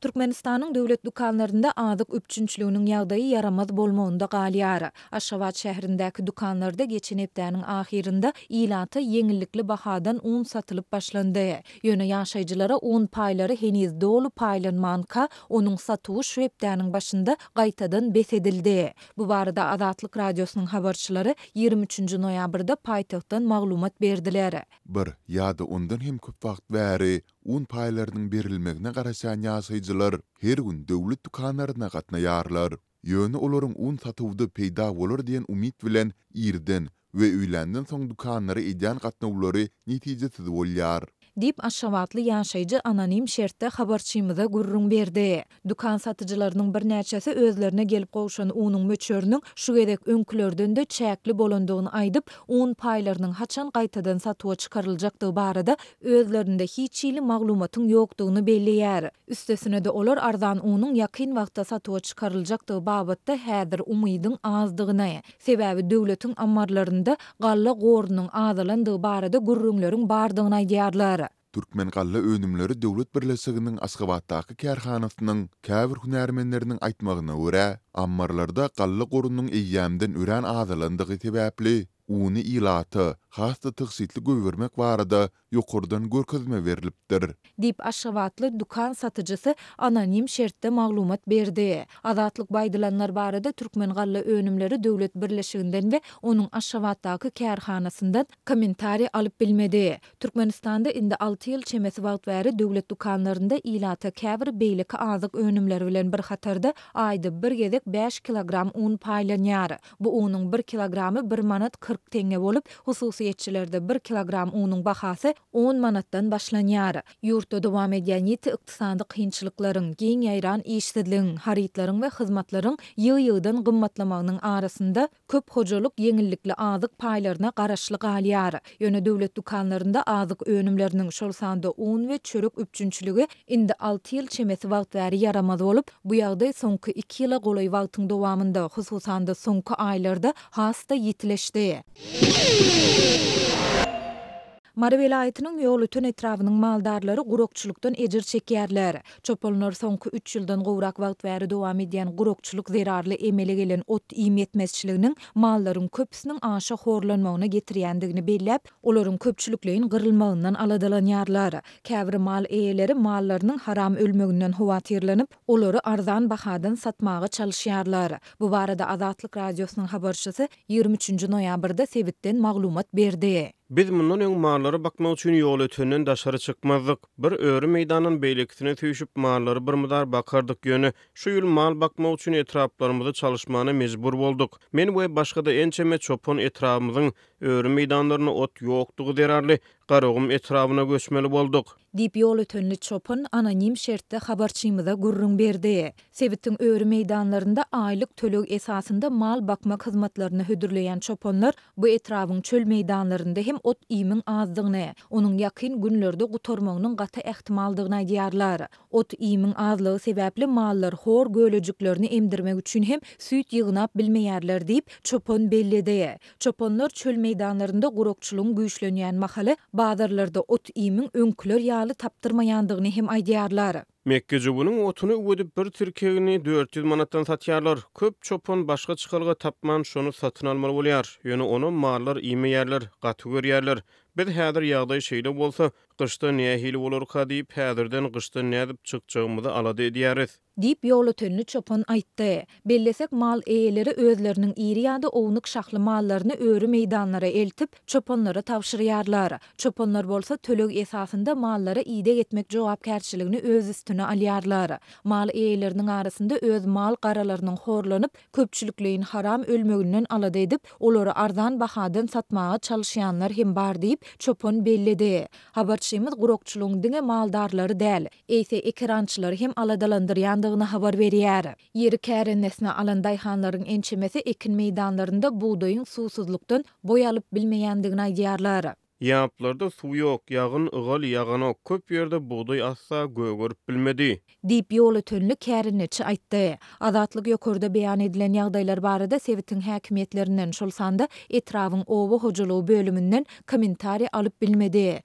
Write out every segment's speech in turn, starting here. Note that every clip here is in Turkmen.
Türkmenistanyň döwlet dükanlarynda azyk üpjünçiliginiň ýagdaýy ýaramaz bolmagynda galýar. Aşgabat şäherindäki dükanlarda geçen hepdäniň ahyrynda ilata ýeňillikli bahadan un satylyp başlandy. Ýöne ýaşaýjylara un paýlary heniz doly paýlanmanka, onuň satuwy şu hepdäniň başynda gaýtadan bes edildi. Bu barada Azatlyk Radiosynyň habarçylary ýigrimi üçünji noýabrda paýtagtdan maglumat berdiler. Bir ýa-da ondan hem köp wagt bäri Un paýlarynyň berilmegine garaşýan ýaşaýjylar her gün döwlet dükanlaryna gatnaýarlar. Ýöne olaryň un satuwda peýda bolar diýen umyt bilen irden we öýländen soň dükanlara edýän gatnawlary netijesiz bolýar. Diýip, aşgabatly ýaşaýjy anonim şertde habarçymyza gürrüň berdi. Dükan satyjylarynyň birnäçesi özlerine gelip gowşan unuň möçberiniň şu gezek öňkülerden-de çäkli bolandygyny aýdyp, un paýlarynyň haçan gaýtadan satuwa çykaryljakdygy barada özlerinde hiç hili maglumatyň ýokdugyny belleýär. Üstesine-de olar arzan unuň ýakyn wagtda satuwa çykaryljakdygy babatda häzir umydyň azdygyny, sebäbi döwletiň ammarlarynda galla gorunyň azalandygy barada gürrüňleriň bardygyny aýdýarlar. Türkmen galla önümleri döwlet birleşiginiň Aşgabatdaky kärhanasynyň käbir hünärmenleriniň aýtmagyna görä, ammarlarda galla gorunyň eýýämden örän azalandygy sebäpli, uny ilata has-da tygşytly goýbermek barada ýokardan görkezme berlipdir. Diýip, aşgabatly dükan satyjysy anonim şertde maglumat berdi. Azatlyk bu aýdylanlar barada Türkmen galla önümleri döwlet birleşiginden we onuň Aşgabatdaky kärhanasyndan Kommentariý alyp bilmedi. Türkmenistanda indi alty ýyl çemesi wagt bäri döwlet dükanlarynda ilata käbir beýleki azyk önümleri bilen bir hatarda aýda bir gezek bäş kilogram un paýlanýar. Bu unuň bir kilogramy bir manat kyrk teňňe bolup, hususyýetçilerde bir kilogram unuň bahasy on manatdan başlanýar. Ýurtda dowam edýän ýiti ykdysady kynçylyklaryň, giň ýaýran işsizligiň, harytlaryň we hyzmatlaryň ýygy-ýygydan gymmatlamagynyň arasynda, Köp hojalyk ýeňillikli azyk paýlaryna garaşly galýar. Ýöne döwlet dükanlarynda azyk önümleriniň, şol sanda un we çörek üpjünçiligi indi alty ýyl çemesi wagt bäri ýaramaz bolup, bu ýagdaý soňky iki ýyla golaý wagtyň dowamynda, hususan-da, soňky aýlarda has-da ýitileşdi. Mary welaýatynyň Ýolöten etrabynyň maldarlary gurakçylykdan ejir çekýärler. Çopanlar soňky üç ýyldan gowrak wagt bäri dowam edýän gurakçylyk zerarly emele gelen ot-iým ýetmezçiliginiň mallaryň köpüsiniň aşa horlanmagyna getirýändigini belläp, olaryň köpçülikleýin gyrylmagyndan aladalanýarlar. Käbir mal eýeleri mallarynyň haram ölmeginden howatyrlanyp, olary arzan bahadan satmaga çalyşýarlar. Bu barada Azatlyk Radiosynyň habarçysy Ýigrimi üçünji noýabrda sebitden maglumat berdi. Biz mundan öň mallary bakmak üçin ýolötenden daşary çykmazdyk. Bir öri meýdandan beýlekisine süýşüp, mallary birmydar bakardyk, ýöne şu ýyl mal bakmak üçin etraplarymyzy çalyşmana mejbur bolduk. Men we başga-da ençeme çopan etrabymyzyň öri meýdanlarynda ot ýokdugy zerarly, Garagum etrabyna göçmeli bolduk. Diýip, ýolötenli çopan anonim şertde habarçymyza gürrüň berdi. Sebitiň öri meýdanlarynda aýlyk töleg esasynda mal bakmak hyzmatlaryny hödürleýän çopanlar bu etrabyň çöl meýdanlarynda hem ot-iýmiň azdygyny, onuň ýakyn günlerde gutarmagynyň gaty ähtimaldygyny aýdýarlar. Ot-iýmiň azlygy sebäpli mallar hor gölejiklerini emdirmek üçin hem süýt ýygnap bilmeýärler diýip, çopan belledi. Çopanlar çöl meýdanlarynda gurakçylygyň güýçlenýän mahaly, bazarlarda ot-iýmiň öňküler ýaly tapdyrmaýandygyny hem aýdýarlar. Mekgejöwüniň otuny üwedip, bir tirkegini dört ýüz manatdan satýarlar. Köp çopan başga çykalga tapman, şony satyn almaly bolýar. Ýöne onam mallar iýmeýärler, gaty görýärler. Biz häzir ýagdaý şeýle bolsa, gyşda nähili bolarka diýip, häzirden gyşdan nädip çykjagymyzy alada edýäris. Diýip, ýolötenli çopan aýtdy. Bellesek, mal eýeleri özleriniň iri ýa-da ownuk şahly mallaryny öri meýdanlara eltip, çopanlara tabşyrýarlar. Çopanlar bolsa töleg esasynda mallara ideg etmek jogapkärçiligini öz üstüne alýarlar. Mal eýeleriniň arasynda öz mal-garalarynyň horlanyp, köpçülikleýin haram ölmeginden alada edip, olary arzan bahadan satmaga çalyşýanlar hem bar diýip, çopan belledi. Habarçymyz gurakçylygyň diňe maldarlary däl, eýse ekerançylary hem aladalandyrýandygyny habar berýär. Ýeri kärendesinä alan daýhanlaryň ençemesi ekin meýdanlarynda bugdaýyň suwsuzlykdan boý alyp bilmeýändigini aýdýarlar. Ýaplarda suw ýok, ýagyn, ygal ýaganok, köp ýerde bugdaý asla gögerip bilmedi. Diýip, ýolötenli kärendeçi aýtdy. Azatlyk ýokarda beýan edilen ýagdaýlar barada sebitiň häkimiýetlerinden, şol sanda etrabyň oba hojalygy bölüminden kommentariý alyp bilmedi.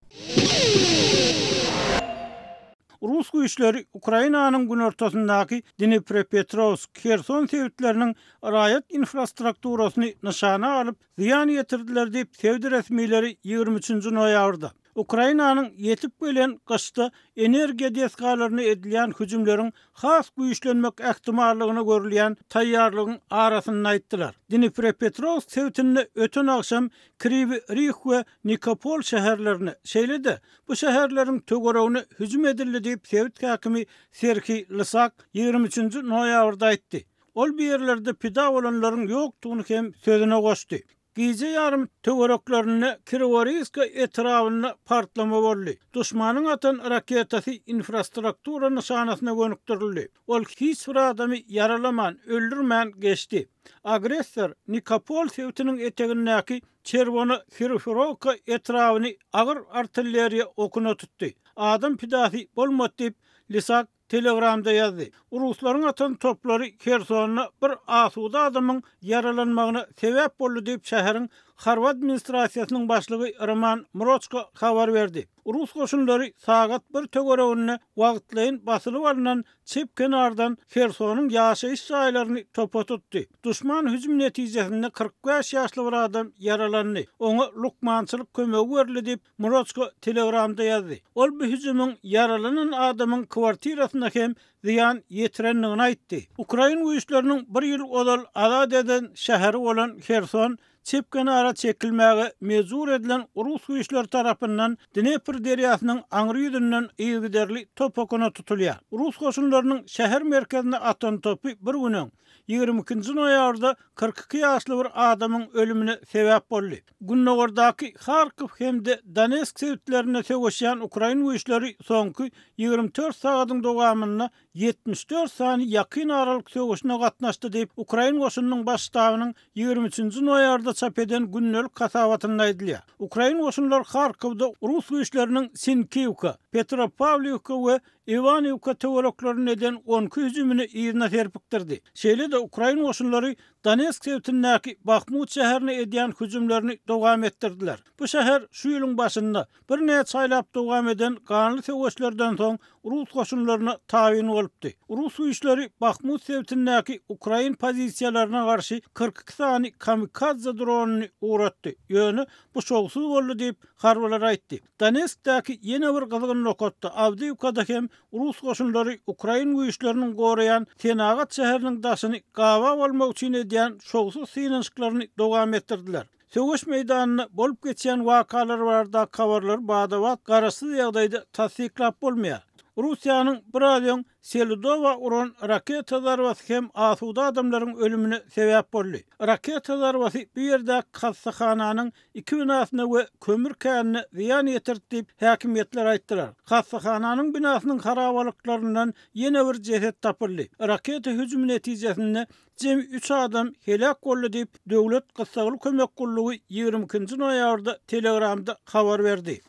Rus güýçleri Ukrainanyň günortasyndaky Dniprepetrowsk, Herson sebitleriniň raýat infrastrukturasyny nyşana alyp, zyýan ýetirdiler diýip, sebit resmileri ýigrimi üçünji noýabrda, Ukrainanyň ýetip gelen gyşda energiýa desgalaryna edilýän hüjümleriň has güýçlenmek ähtimallygyna görülýän taýýarlygyň arasynda aýtdylar. Dniprepetrowsk sebitinde öten agşam Kriwi Rih we Nikopol şäherlerine, şeýle-de bu şäherleriň töweregine hüjüm edildi diýip, sebit häkimi Serhiý Lysak ýigrimi üçünji noýabrda aýtdy. Ol bu ýerlerde pida bolanlaryň ýokdugyny hem sözüne goşdy. Gije ýarymy töwereklerinde Kiroworýska etrabynda partlama boldy. Duşmanyň atan raketasy infrastruktura nyşanasyna gönükdirildi. Ol hiç bir adamy ýaralaman, öldürmän geçdi. Agressor Nikopol sebitiniň etegindäki Çerwona Sirofirowka etrabyny agyr artilleriýa okuna tutdy. Adam pidasy bolmady diýip, Lisak Telegramda ýazdy. Ruslaryň atan toplary Hersonda bir asuda adamyň ýaralanmagyna sebäp boldy diýip, şäheriň harby administrasiýasynyň başlygy Roman Mroçko habar berdi. Rus goşunlary sagat bir töwereginde wagtlaýyn basylyp alnan çep kenardan Hersonyň ýaşaýyş jaýlaryny topa tutdy. Duşman hüjüm netijesinde kyrk bäş ýaşly bir adam ýaralandy. Oňa lukmançylyk kömegi berildi diýip, Mroçko Telegramda ýazdy. Ol bu hüjümiň ýaralanan adamyň kwartirasyna hem zyýan ýetirendigini aýtdy. Ukrain güýçleriniň bir ýyl ozal azat eden şäheri bolan Herson çep kenara çekilmäge mejbur edilen rus güýçleri tarapyndan Dnepr derýasynyň aňry ýüzünden yzygiderli top okuna tutulýar. Rus goşunlarynyň şäher merkezine atan topy bir gün öň, ýigrimi ikinji noýabrda kyrk iki ýaşly bir adamyň ölümine sebäp boldy. Gündogardaky Harkow hem-de Donetsk sebitlerinde söweşýän ukrain güýçleri soňky ýigrimi dört sagadyň dowamynda ýetmiş dört sany Ýakyn Aralyk söweşine gatnaşdy diýip, ukrain goşunynyň Baş ştabynyň ýigrimi üçünji noýabrda çap eden gündelik hasabatynda aýdylýar. Ukrain goşunlary Harkowda rus güýçleriniň Sinkiwka, Petropawliwka we Iwaniwka töwereklerinde eden on iki hüjümini yzyna serpikdirdi. Şeýle-de ukrain goşunlary Donetsk sebitindäki Bahmut şäherine edýän hüjümlerini dowam etdirdiler. Bu şäher şu ýylyň başynda Birnäçe aýlap dowam eden ganly söweşlerden soň rus goşunlaryna tabyn bolupdy. Rus güýçleri Bahmut sebitindäki ukrain pozisiýalaryna garşy kyrk iki sany kamikadze dronyny ugratdy, ýöne bu şowsuz boldy diýip, harbylar aýtdy. Donetskdäki ýene bir gyzgyn nokatda, Awdiýwkada hem rus goşunlary ukrain güýçleriniň goraýan senagat şäheriniň daşyny gabap almak üçin edýän şowsuz synanyşyklaryny dowam etdirdiler. Söweş meýdanynda bolup geçýän wakalar baradaky habarlary bada-bat garaşsyz ýagdaýda tassyklap bolmaýar. Russiýanyň biraz öň Seludowa uran raketa zarbasy hem asuda adamlaryň ölümine sebäp boldy. Raketa zarbasy bu ýerdäki hassahananyň iki binasyna we kömür känine zyýan ýetirdi diýip, häkimiýetler aýtdylar. Hassahananyň binasynyň harabalyklaryndan ýene bir jeset tapyldy. Raketa hüjümi netijesinde Jemi üç adam heläk boldy diýip, Döwlet gyssagly kömek gullugy ýigrimi ikinji noýabrda Telegramda habar berdi.